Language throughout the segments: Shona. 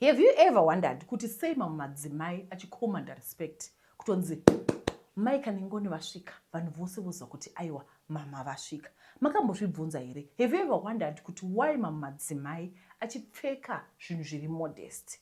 Have you ever wondered kuti sei mamwe madzimai achicommanda respect kutonzi mai kanengoni vasvika vanhu vose voziva kuti aiwa mama vasvika makambozvibvunza here have you ever wondered kuti why mamwe madzimai achipfeka zvinhu zviri modest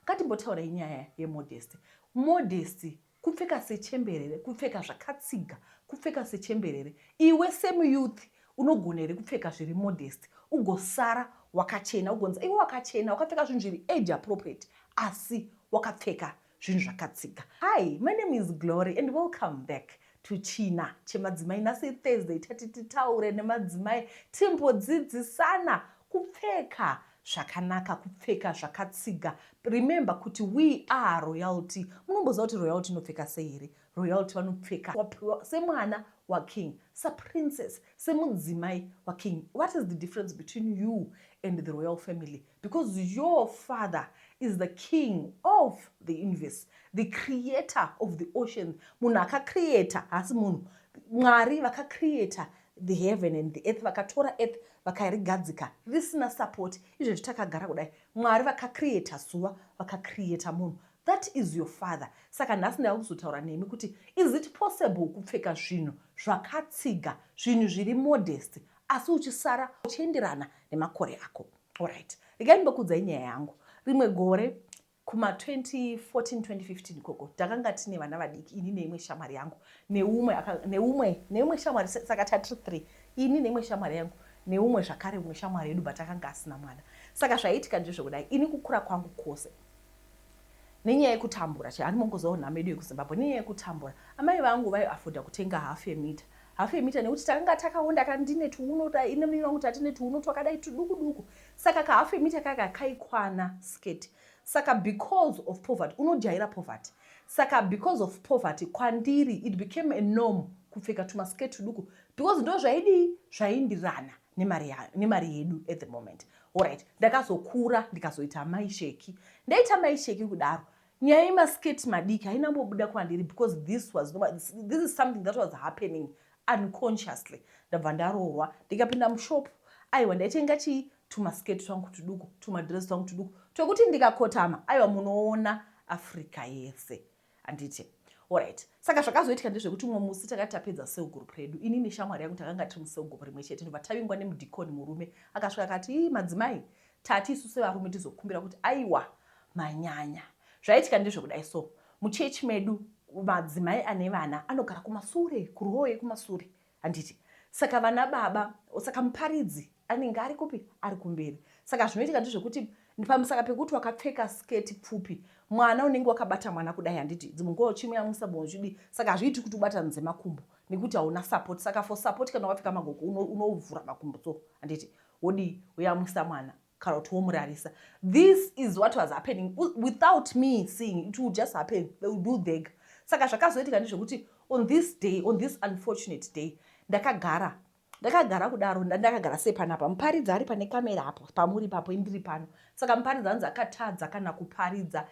ngatimbotaurai nyaya yemodest modest Kupfeka sechemberere, kupfeka zvakatsiga, kupfeka sechemberere. Iwe semuyouth unogona here kupfeka zviri modest ugosara wakachena ugonzi iwe wakachena wakapfeka zvinhu zviri age appropriate asi wakapfeka zvinhu zvakatsiga. Hi, my name is Glory and welcome back to China Chemadzimai. Nhasi iThursday tati titaure nemadzimai timbodzidzisana kupfeka zvakanaka kupfeka zvakatsiga remember kuti we are royalty munomboziva kuti royalty inopfeka sei here royalty vanopfeka wapiwa semwana waking saprincess semudzimai waking what is the difference between you and the royal family because your father is the king of the universe the creator of the ocean munhu akacreata haasi munhu mwari vakacreata the heaven and the earth vakatora earth vakarigadzika risina support izvezvi takagara kudai mwari vakacreata zuva vakacreata munhu that is your father saka nhasi ndava kuzotaura nemi kuti is it possible kupfeka zvinhu zvakatsiga zvinhu zviri modest asi uchisara uchienderana nemakore ako allright regai ndimbokuudzai nyaya yangu rimwe gore Kuma 2014-2015 ikoko takanga tine vana vadiki ini neimwe shamwari yangu neumwe neumwe neumwe shamwari saka tatiri three ini neimwe shamwari yangu neumwe zvakare umwe shamwari yedu but akanga asina mwana saka zvaiitika ndezvekudai ini kukura kwangu kwose nenyaya yekutambura chaiani mongozawo nhamo yedu yekuzimbabwe nenyaya yekutambura amai vangu vaiafoda kutenga half yemita Hafu yemita nekuti takanga takaonda ka ndine tuuno nemuviri wangu tatine tuuno twakadai tuduku duku saka kahafu yemita kaka kaikwana sketi saka because of poverty unojaira poverty saka because of poverty kwandiri it became a norm kupfeka tumasketi tuduku because ndo zvaidii zvaindirana nemari yedu at the moment orit ndakazokura ndikazoita maisheki ndaita maisheki kudaro Nyaya yema skirt madiki haina kumbobuda kwandiri because this was no, this, this is something that was happening unconsciously ndabva ndaroorwa ndikapinda mushop aiwa ndaitenga chii tumaskirt twangu tuduku tumadress twangu tuduku twekuti ndikakotama aiwa munoona africa yese handiti orit saka zvakazoitika ndezvekuti umwe musi takati tapedza cell group redu ini neshamwari yangu takanga tiri mucell group rimwe chete ndobva tavingwa nemudhikoni murume akasvika akati madzimai Tati isu sevarume tizokumbira kuti aiwa manyanya. Zvaitika ndezvekudai so muchechi medu madzimai ane vana anogara kumasure kuroo yekumasure handiti saka vana baba saka muparidzi anenge ari kupi ari kumberi saka zvinoitika ndezvekuti pamusaka pekuti wakapfeka sketi pfupi mwana unenge wakabata mwana kudai handiti dzimwe nguva uchimuyamwisa bvimwe uchidii saka hazviiti kuti ubatanidze makumbo nekuti hauna support saka for support kana wakapfeka magoko unovhura makumbo so handiti Wodii woyamwisa mwana kana kuti womurarisa. This is what was happening without me seeing it will just happen they will do dhega. Saka zvakazoitika ndezvekuti on this day on this unfortunate day ndakagara ndakagara kudaro ndakagara sei panapa muparidzi ari pane kamera apo pamuri papo indiri pano saka muparidzi anzi akatadza kana kuparidza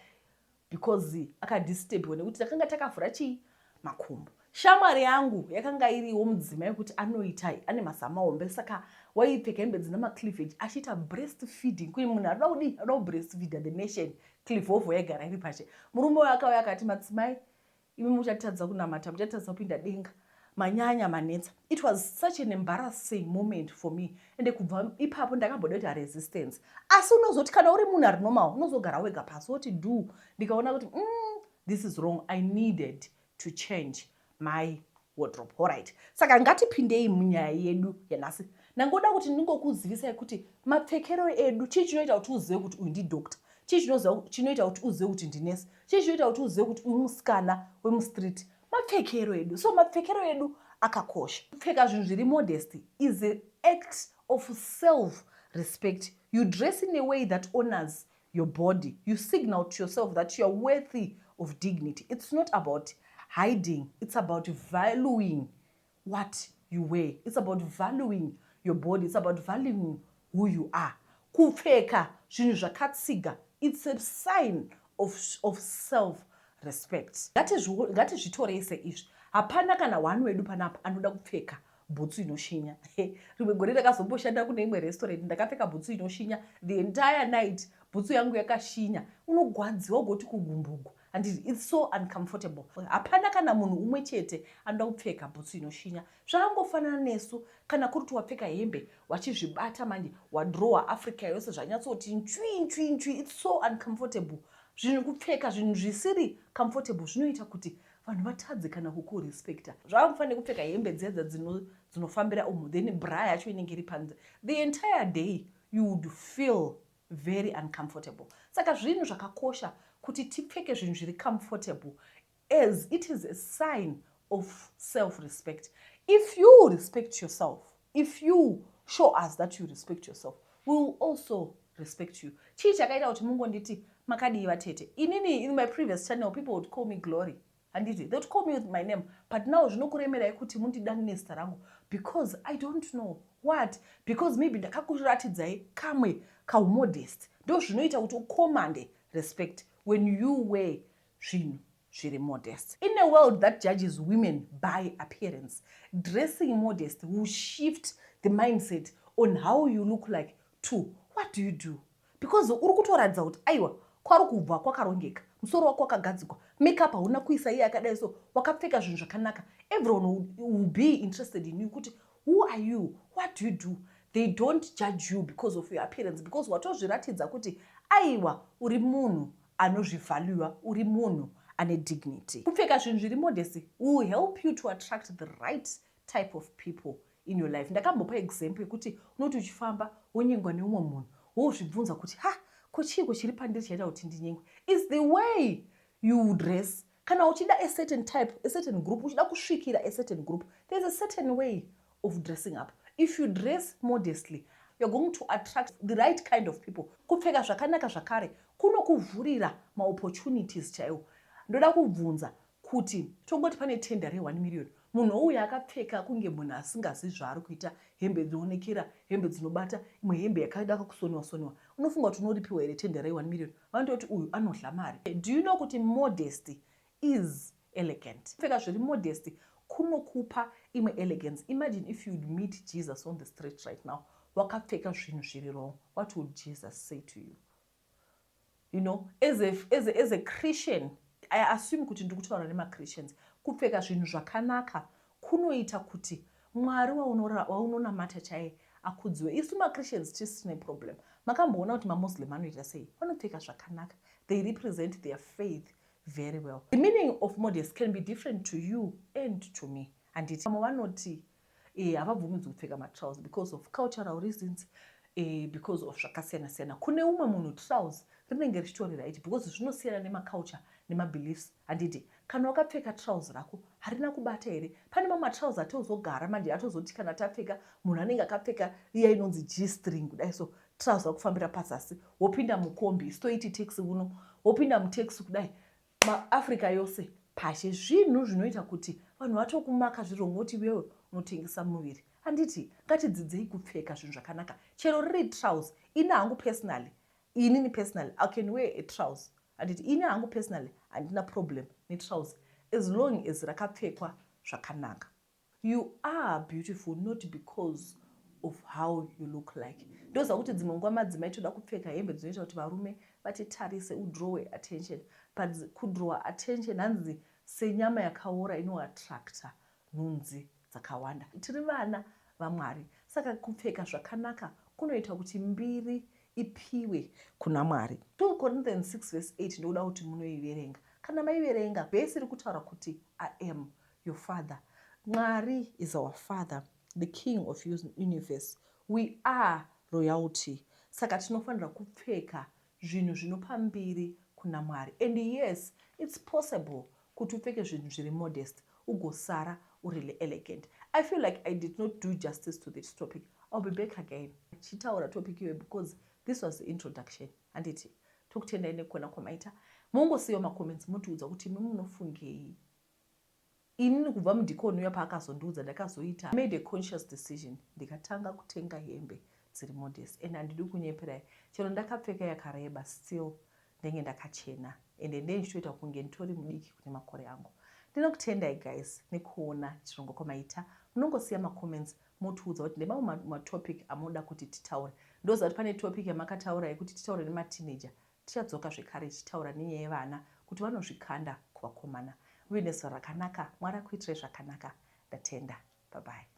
because akadisturbwa nekuti takanga takavhura chii makumbo shamwari yangu yakanga iriwo mudzima yekuti anoita ane mazama hombe saka waipfeka hembe dzina macleavage achiita breast feeding kuyi munhu anoda kudii anoda kubreast feeder the nation clivovo yaigara iri pache murume wayo akauya akati madzimai imi muchatadza kunamata muchatadza kupinda denga manyanya manetsa it was such an embarrassing moment for me ende kubva ipapo ndakamboda kuita resistance asi unozoti kana uri munhu ari normal unozogara wega pasi woti do ndikaona kuti mm, this is wrong i needed to change my wardrobe horit saka ngatipindei munyaya yedu yanhasi ndangoda kuti ndingokuzivisai kuti mapfekero edu chii chinoita kuti uzive kuti uyu ndidoctor Chii chinoziva chinoita kuti uzive kuti ndinesi? Chii chinoita kuti uzive kuti uyu musikana wemustreet? Mapfekero edu. So mapfekero edu akakosha. Kupfeka zvinhu zviri modest is an act of self respect. You dress in a way that honors your body. You signal to yourself that you are worthy of dignity. It's not about hiding. It's about valuing what you wear it's about valuing your body it's about valuing who you are kupfeka zvinhu zvakatsiga it's a sign of, of self respect ngatizvitorei seizvi hapana kana one wedu panapa anoda kupfeka bhutsu inoshinya rimwe gore ndakazomboshanda kune imwe restaurant ndakapfeka bhutsu inoshinya the entire night bhutsu yangu yakashinya unogwadziwa ugoti kugumbugwa and its so uncomfortable hapana kana munhu umwe chete anoda kupfeka bhutsu inoshinya zvakangofanana nesu kana kuri kuti wapfeka hembe wachizvibata manje wadrowa africa yose zvanyatsoti nchwi nchwi nchwi its so uncomfortable zvinhu kupfeka zvinhu zvisiri comfortable zvinoita kuti vanhu vatadze kana kukurespecta zvavakufanira kupfeka hembe dzedza dzinofambira umu then bra yacho inenge iri panze the entire day you would feel very uncomfortable saka zvinhu zvakakosha kuti tipfeke zvinhu zviri comfortable as it is a sign of self respect if you respect yourself if you show us that you respect yourself we will also respect you chii chakaita kuti mungonditi makadii vatete inini in my previous channel people would call me glory handiti they would call me with my name but now zvinokuremerai kuti mundidani nezita rangu because i don't know what because maybe ndakakuratidzai kamwe kaumodest ndo zvinoita kuti ucommande respect when you were zvinhu zviri modest in a world that judges women by appearance dressing modest will shift the mindset on how you look like to what do you do Because uri kutoratidza kuti aiwa kwari kubva kwakarongeka. Musoro wako wakagadzikwa, makeup hauna kuisa iye akadai so, wakapfeka zvinhu zvakanaka. Everyone will be interested in you kuti who are you, what do you do? They don't judge you because of your appearance because watozviratidza kuti aiwa uri munhu anozvivaluer, uri munhu ane dignity. Kupfeka zvinhu zviri modesty will help you to attract the right type of people in your life ndakambopa example yekuti unoti uchifamba wonyengwa neumwe munhu wozvibvunza kuti ha ko chiiko chiri pandiri chaita kuti ndinyengwe is the way you dress kana uchida a certain type a certain group uchida kusvikira a certain group there's a certain way of dressing up if you dress modestly you're going to attract the right kind of people kupfeka zvakanaka zvakare kunokuvhurira maopportunities chaiwo ndoda kubvunza Kuti tongoti pane tender re one million munhu ouya akapfeka kunge munhu asingazivi zvaari kuita, hembe dzinoonekera, hembe dzinobata, imwe hembe yakada kusoniwa soniwa, unofunga kuti unoripiwa here tender re one million? Vanototi uyu anodhla mari. Do you know kuti modesty is elegant? Kupfeka zviri modest kunokupa imwe elegance. Imagine if you would meet Jesus on the street right now wakapfeka zvinhu zviri wrong, what would Jesus say to you? you know as a, as a, as a christian i assume kuti ndiri kutaura nemachristians kupfeka zvinhu zvakanaka kunoita kuti mwari waunonamata chaiye akudziwe isu machristians tisi tine problem makamboona kuti mamuslim anoita sei vanopfeka zvakanaka they represent their faith very well the meaning of modest can be different to you and to me handiti vamwe vanoti eh, havabvumidzwi kupfeka matrouse because of cultural reasons eh, because of zvakasiyana siyana kune umwe munhu trouse rinenge richitori right because zvinosiyana nemaculture nemabeliefs handiti kana wakapfeka trouse rako harina kubata here pane mamwe matrouse atozogara manje atozoti kana tapfeka munhu anenge akapfeka iya inonzi g string kudai so trouse rakufambira pazasi wopinda mukombi stoiti taxi uno wopinda mutaxi kudai maafrica yose pashe zvinhu zvinoita kuti vanhu vatokumaka zviro unoti iwewe unotengesa muviri handiti ngatidzidzei kupfeka zvinhu zvakanaka chero riri trouse ini hangu personally inini personally i can wear a trouse handiti ini hangu personally handina problem netrouse as long as rakapfekwa zvakanaka You are beautiful not because of how you look like. Ndoziva kuti dzimwe nguva madzimai toda kupfeka hembe dzinoita kuti varume vatitarise udrowe attention but kudrowa attention hanzi senyama yakaora inoattracta nhunzi dzakawanda. Tiri vana vaMwari saka kupfeka zvakanaka kunoita kuti mbiri ipiwe kuna Mwari. 2 Corinthians 6 verse 8 ndoda kuti munoiverenga. Kana maiverenga verse iri kutaura kuti I am your father mwari is our father the king of universe we are royalty saka tinofanira kupfeka zvinhu zvinopa mbiri kuna mwari and yes its possible kuti upfeke zvinhu zviri modest ugosara uri elegant i feel like i did not do justice to this topic ill be back again chitaura topic iyoyo because this was the introduction handiti tokutendai nekukona kwamaita mongosiyiwa macomments motiudza kuti imi munofungei Inini kubva mudikoni uya paakazondiudza ndakazoita made a conscious decision ndikatanga kutenga hembe dziri modest and handidi kunyeperai chero ndakapfeka yakareba still ndenge ndakachena ende ndenge ndichitoita kunge nditori mudiki kune makore angu. Ndinokutendai guys nekuona chirongwa kwamaita munongosiya macomments motiudza kuti ndemamwe matopic amunoda kuti titaure ndoziva kuti pane topic yamakataura yekuti titaure nemateenager Tichadzoka zvekare tichitaura nenyaya yevana kuti vanozvikanda kuvakomana. Muve nezora rakanaka Mwari akuitirei zvakanaka. Ndatenda. Bye bye.